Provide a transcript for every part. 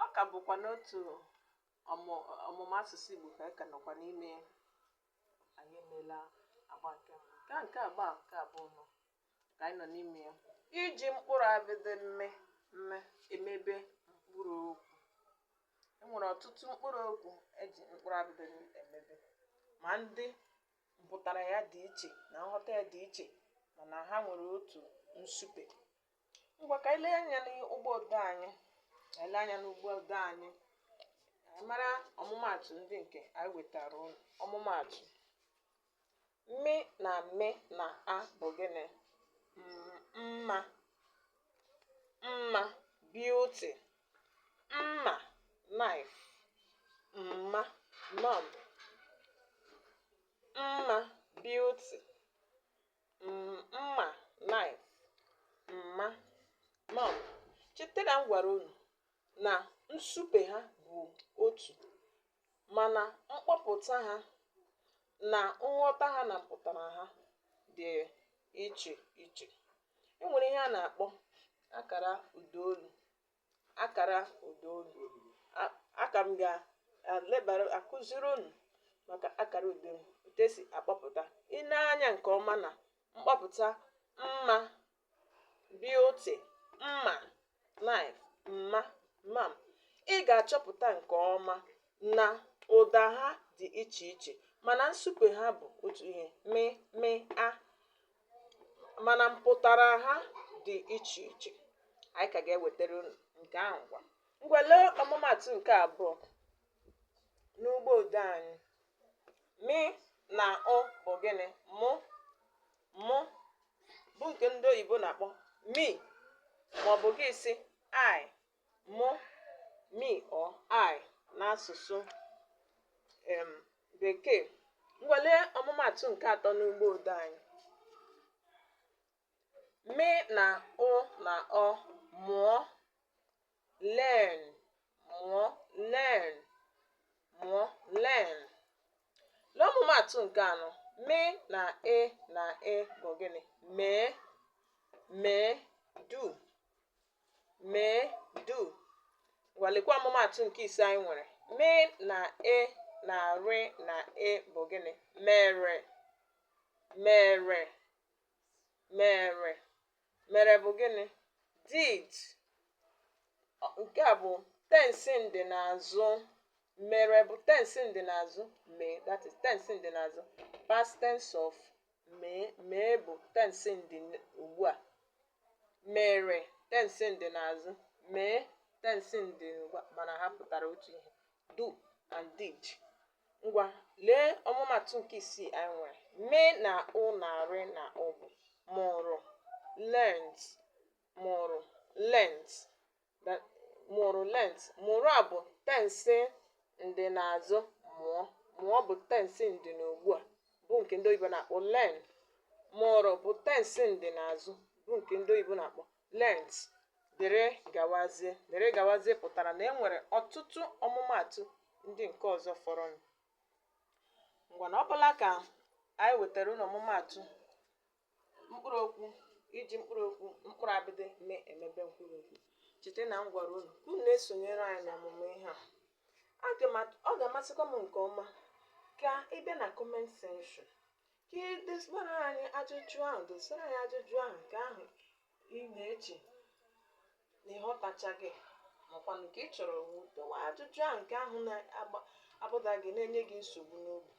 ọ ka bụkwa n'otu ọmụmụ asụsụ Igbo ka anyị ka nọkwa n'ime ya anyị emeela agba nke mbụ nke nke agba nke abụọ ka anyị nọ n'ime ya iji mkpụrụ abịdị mị mị emebe mkpụrụ okwu enwere ọtụtụ mkpụrụ okwu eji mkpụrụ abịdị mị emebe ma ndị mpụtara ya dị iche na nghọta ya dị iche mana ha nwere otu nsupe ngwa ka anyị lee anya n'ụgbọ odee anyị ka anyị lee anya n'ụgbọ odee anyị ka anyị mara ọmụmaatụ ndị nke anyị wetara unu ọmụmaatụ mị na mị na a bụ gịnị M- mma mma beauty mma knife mma mum mma beauty mma knife mma mum cheta na m gwara unu na nsupe ha bụ otu mana mkpọpụta ha na nghọta ha na mpụtara ha dị iche iche e nwere ihe a na-akpọ akara ụdaolu akara ụda olu A- aka m ga-elebara akụziri unu maka akara ụda olu otu esi akpọpụta i lee anya nke ọma na mkpọpụta mma beauty mma knife mma mum ị ga-achọpụta nke ọma na ụda ha dị iche iche mana nsupe ha bụ otu ihe mị mị a mana mpụtara ha dị iche iche anyị ka ga-ewetara unu nke ahụ ngwa ngwa lee ọmụmatụ nke abụọ n'ụgbọ odee anyị mị na ụ bụ gịnị mụ mụ bụ nke ndị oyibo na-akpọ me maọbụ gị sị I Mụ, me or I n'asụsụ um Bekee. Ngwa lee ọmụmaatụ nke atọ n'ụgbọ odee anyị. Mị na ụ na ọ mụọ learn mụọ learn mụọ learn. Lee ọmụmaatụ nke anọ. Mị na e na e bụ gịnị? Mee mee do. mee do ngwa lekwa ọmụmaatụ nke ise anyị nwere mị na e na rị na e bụ gịnị mere mere mere mere bụ gịnị did Ọ- nke a bụ tensi ndị n'azụ mere bụ tensi ndị n'azụ mee that is tensi ndị n'azụ past tense of mee mee bụ tensi ndị ugbu a mere tensi ndị n'azụ mee tensi ndị ugbu a mana ha pụtara otu ihe do and did ngwa lee ọmụmaatụ nke isii anyị nwere mị na ụ na rị na ụ bụ mụrụ learnt mụrụ learnt that mụrụ learnt mụrụ a bụ tensi ndị n'azụ mụọ mụọ bụ tensi ndị n'ugbu a bụ nke ndị oyibo na-akpọ learn mụrụ bụ tensi ndị n'azụ bụ nke ndị oyibo na-akpọ learnt dịrị gawazie dịrị gawazie pụtara na e nwere ọtụtụ ọmụmaatụ ndị nke ọzọ fọrọnụ ngwa na ọ bụla ka anyị wetara unu ọmụmaatụ mkpụrụ okwu iji mkpụrụ okwu mkpụrụ abịdị mee emebe mkpụrụ okwu cheta na m gwara unu ka unu na-esonyere anyị n'ọmụmụ ihe a Aga m at- ọ ga-amasịkwa m nke ọma ka ị bịa na comment section ka ị dosara anyị ajụjụ ahụ dosara anyị ajụjụ ahụ nke ahụ ị na-eche na ị ghọtachaghị makwanụ nke ị chọrọ wu dowe ajụjụ ahụ nke ahụ na-abụda gị na-enye gị nsogbu n'obi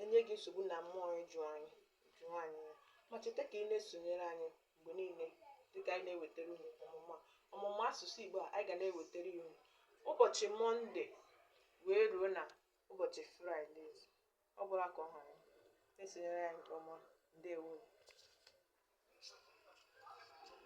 enye gị nsogbu na mmụọ ịjụ anyị nke nwaanyị ya ma cheta ka ị na-esonyere anyị mgbe niile dịka anyị na-ewetara unu ọmụmụ a ọmụmụ asụsụ Igbo a anyị ga na-ewetara ya unu ụbọchị Monday wee ruo na ụbọchị Friday ọ bụla ka ọ ha na-esonyere anyị nke ọma ndewo